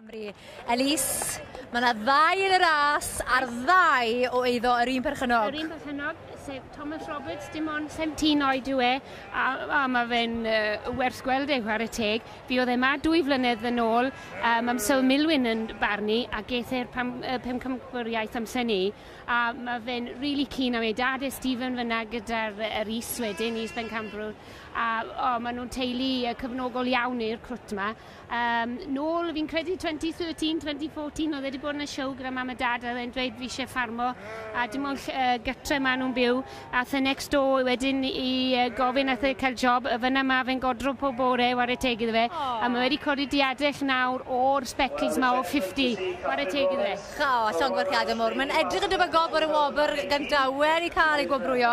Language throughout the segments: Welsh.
Cymru. Elise, mae yna ddau yn y ras a'r ddau o eiddo yr un perchynog. Yr un perchynog, sef Thomas Roberts, dim ond 17 oed yw e, a, a mae fe'n uh, werth gweld ei chwarae teg. Fi oedd e ma dwy flynedd yn ôl, um, am Syl Milwyn yn barnu, a geith e'r pam, uh, pum camgwriaeth amser ni. A mae fe'n rili keen am ei dad e Stephen fyna gyda'r yr is wedyn is Bencampwr a o maen nhw'n teulu yy cyfnogol iawn i'r crwt ma. Yym nôl fi'n credu 2013, 2014 oedd e wedi bod yn y siow gyda mam a dad a oedd e'n dweud fi isie ffarmo a dim ond ll- yy gytre maen nhw'n byw. Aeth e next door wedyn i gofyn aeth e cael job a fanna ma fe'n godro pob bore i ware teg iddo fe a ma wedi codi diadell nawr o'r specls ma o 50 ware teg iddo fe. O, llongyfarchiadau mowr. Mae'n edrych yn debygol bod y wobr gynta wedi cael ei gwobrwyo.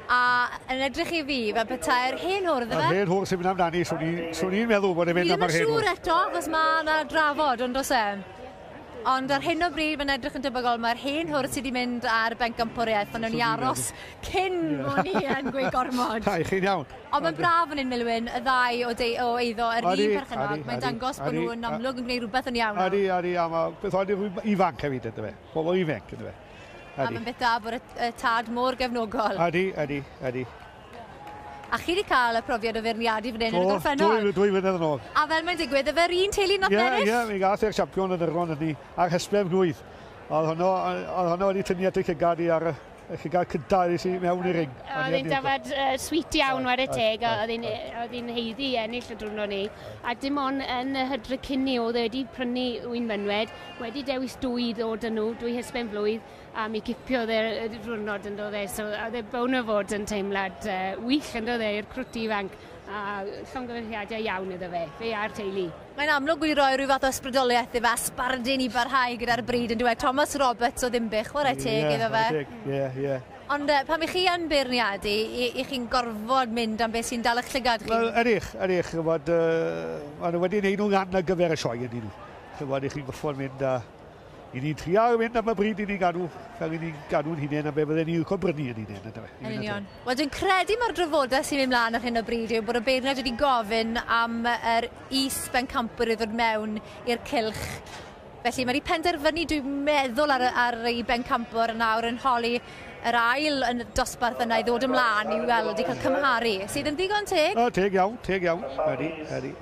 A yn edrych i fi fel petai'r hen hwr iddo fe. Yr hen hwr sy'n mynd amdani, swn i'n meddwl bod e'n mynd am yr hen hwr. Fi ddim yn siŵr eto achos mae yna drafod, yn does e? Ond ar hyn o bryd, mae'n edrych yn debygol, mae'r hen hwrdd sydd wedi mynd ar benc gampwriaeth, ond o'n i aros cyn o'n i yn gweud gormod. Ai, chi'n iawn. Ond mae'n braf yn un Milwyn, y ddau o, de, o eiddo, yr un perchennog, mae'n dangos bod nhw'n amlwg yn gwneud rhywbeth yn iawn. Adi, adi, a mae beth oedd rhywbeth ifanc hefyd, ynddo fe. Pobl ifanc, ynddo fe. A mae'n beth da bod y tad mor gefnogol. Adi, adi, adi. A chi wedi cael y profiad o feirniadu fan hyn yn y gorffennol? Do, dwy, dwy flynedd yn ôl. A fel mae'n digwydd, y fe'r un teulu nath ennill? Ie, ie, mi gath e'r siampion yn Irlon hynny, ar hysblen blwydd. Oedd honno, oedd honno wedi tynnu at y llygad i ar y y llygad cynta i i mewn i'r ring. Oedd hi'n dafad uh, sweet iawn war y teg, oedd hi'n oedd hi'n heiddi ennill y drwrno ni. A dim ond yn y hydre cynni oedd e wedi prynu wy'n mynwed, wedi dewis dwy ddod yn nhw, dwy hysben flwydd, A mi cipiodd e y diwrnod yn do fe so oedd e bown o fod yn teimlad yy wych yn do fe i'r crwt ifanc a llongyfarchiadau iawn iddo fe, fe a'r teulu. Mae'n amlwg wedi rhoi rhyw fath o ysbrydoliaeth ife a sbardun i barhau gyda'r bryd yn dyw e? Thomas Roberts o Ddinbych, chwarae teg iddo fe. Ie, chwarae teg, ie, ie. Ond yy pan 'ych chi yn beirniadu, 'y 'ych chi'n gorfod mynd am beth sy'n dal 'ych llygad chi? Wel, ydych, ydych, chi'n gwybod, yy, maen nhw wedi wneud nhw'n anargyfer y sioe ynddyn nhw. Chi'n gwybod, 'ych chi'n gorfod mynd a... I ni trial mynd am y bryd i ni gadw, fel i ni'n gadw'n hunain a be fydden ni'n licio brynu yn hunain. Ydw, yn union. Wel, dwi'n credu mae'r drafodaeth sy'n mynd mlaen ar hyn o bryd yw bod y beirniaid wedi gofyn am yr is bencampwyr i ddod mewn i'r cilch Felly mae wedi penderfynu, dwi'n meddwl, ar, ar ei bencampwr yn awr yn holi yr ail yn dosbarth yna i ddod ymlaen i weld, i cael cymharu, sydd yn ddigon teg. O, teg iawn, teg iawn. Ydy, ydy.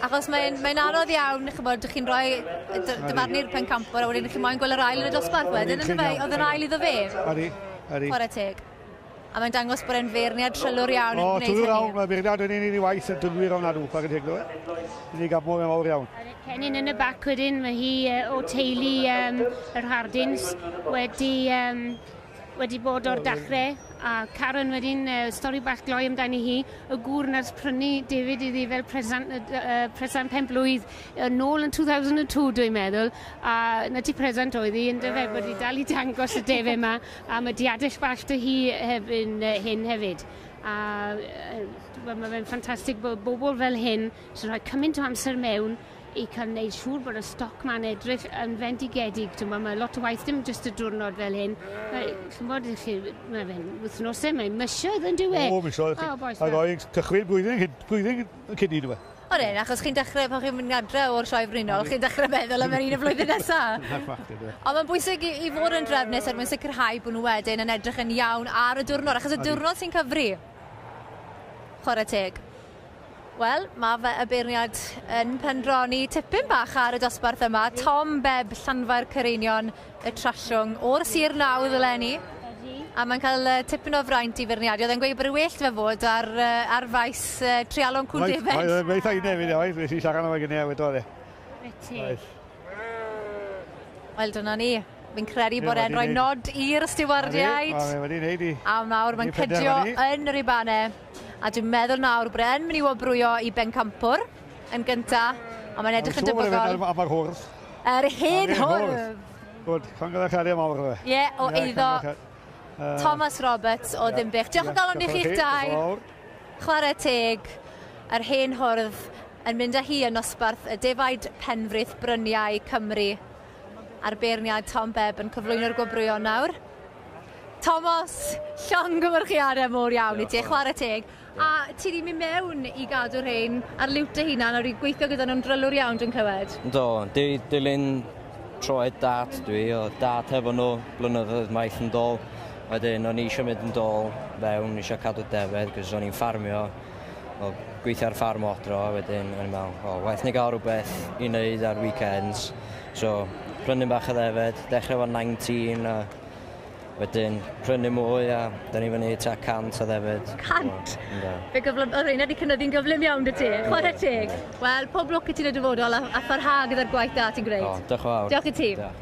Achos mae'n mae anodd iawn, chymod, dych chi'n rhoi dyfarnu'r pencampwr a wedyn chi'n moyn gweld yr ail yn y dosbarth wedyn, ynddo fe? Oedd yr ail iddo fe? Ydy, ydy. Chwarae teg. A mae'n dangos bod e'n feirniad trylwr iawn yn gwneud hynny. O, trylwr iawn, mae feirniad yn un i ni waith yn dylwyr iawn adw, chwarae teg ddo fe. Ni gaf mor fawr iawn. Cennin yn y bac wedyn, mae hi o teulu um, yr Hardins, wedi um, wedi bod o'r dachre, a Karen wedyn, uh, stori bach gloi amdani hi, y gŵr na'r prynu David iddi fel presant, uh, presant pen blwydd, uh, nôl yn 2002 dwi'n meddwl, a na ti presant oedd hi, yn dyfe, bod hi dal i dangos y defe yma, a mae diadell bach dy hi hef, yn, uh, hyn hefyd. A uh, mae fe'n ffantastig bod bobl fel hyn sy'n rhoi cymaint o amser mewn i cael wneud siŵr bod y stoc ma'n edrych yn fendigedig. Ch'mo' ma' lot o waith dim jyst y diwrnod fel hyn. Mae ch'mod i chi ma' fe'n wythnose mae'n misoedd yndyw e? O misoedd chi. O bois Ag o'i cychwyn blwyddyn hyd blwyddyn cyn 'ny on'd yw e? Odi ie achos chi'n dechre pan chi'n mynd adre o'r Sioe Frenhinol chi'n dechre meddwl am yr un y flwyddyn nesa. Na'r fact yndyw e? Ond mae'n bwysig i i fod yn drefnus er mwyn sicrhau bod nhw wedyn yn edrych yn iawn ar y diwrnod achos y diwrnod sy'n cyfri. Chware teg. Wel, mae fy y beirniad yn pendroni tipyn bach ar y dosbarth yma. Tom Beb, Llanfair Cyreinion, y Trallwng, o'r Sir Nawdd eleni. A mae'n cael uh, tipyn o fraint i feirniadu. Oedd e'n gweud bod y well fe fod ar, uh, ar faes uh, trialon cwl defen. Oedd e'n gweithio i nefyd, oedd. Nes i siarad o'i gynnau, wedodd e. Reti. Wel, dyna ni. Fi'n credu bod e'n rhoi nod i'r stiwardiaid. Mae wedi wneud i. A nawr mae'n cydio yn yr ibanau. A dwi'n meddwl nawr bod e'n mynd i wobrwyo i Bencampwr yn gynta, a mae'n edrych yn debygol. Am yr hwrdd. Yr hen hwrdd. Gwyd, congratulations mawr fe. Ie, o eiddo Thomas Roberts o Ddinbych. Diolch o galon i chi'ch dau. Chwarae teg, yr hen hwrdd yn mynd â hi yn nosbarth y defaid penfrith bryniau Cymru. Ar beirniad Tom Bebb yn cyflwyno'r gwobrwyon nawr. Tomos, llongyfarchiadau mor iawn i ti, chwarae teg. A ti wedi mynd mewn i gadw rhain ar liwt dy hunan a wedi gweithio gyda nhw'n drylwr iawn dwi'n clywed? Do, dwi wedi dilyn troed dad dwi, oedd dad hefo nhw blynyddoedd maith yn dol. Wedyn o'n i eisiau mynd yn dol fewn, eisiau cadw defed, cos o'n i'n ffarmio. wel gweithio ar ffarm o adra wedyn o'n i'n me'wl o waeth ni ga'l rwbeth i neud ar weekends so prynu bach o ddefed dechre efo 19 a wedyn prynu mwy a 'dyn ni fyny tua 100 o ddefed. 100? So, yndw. Fe gyflym- o'dd reina 'di cynyddu'n gyflym iawn 'dy ti. Chware teg. Wel pob lwc i ti yn y dyfodol a a pharha gyda'r gwaith da ti'n gwneud. O, dioch yn fawr. Diolch i ti. Diolch.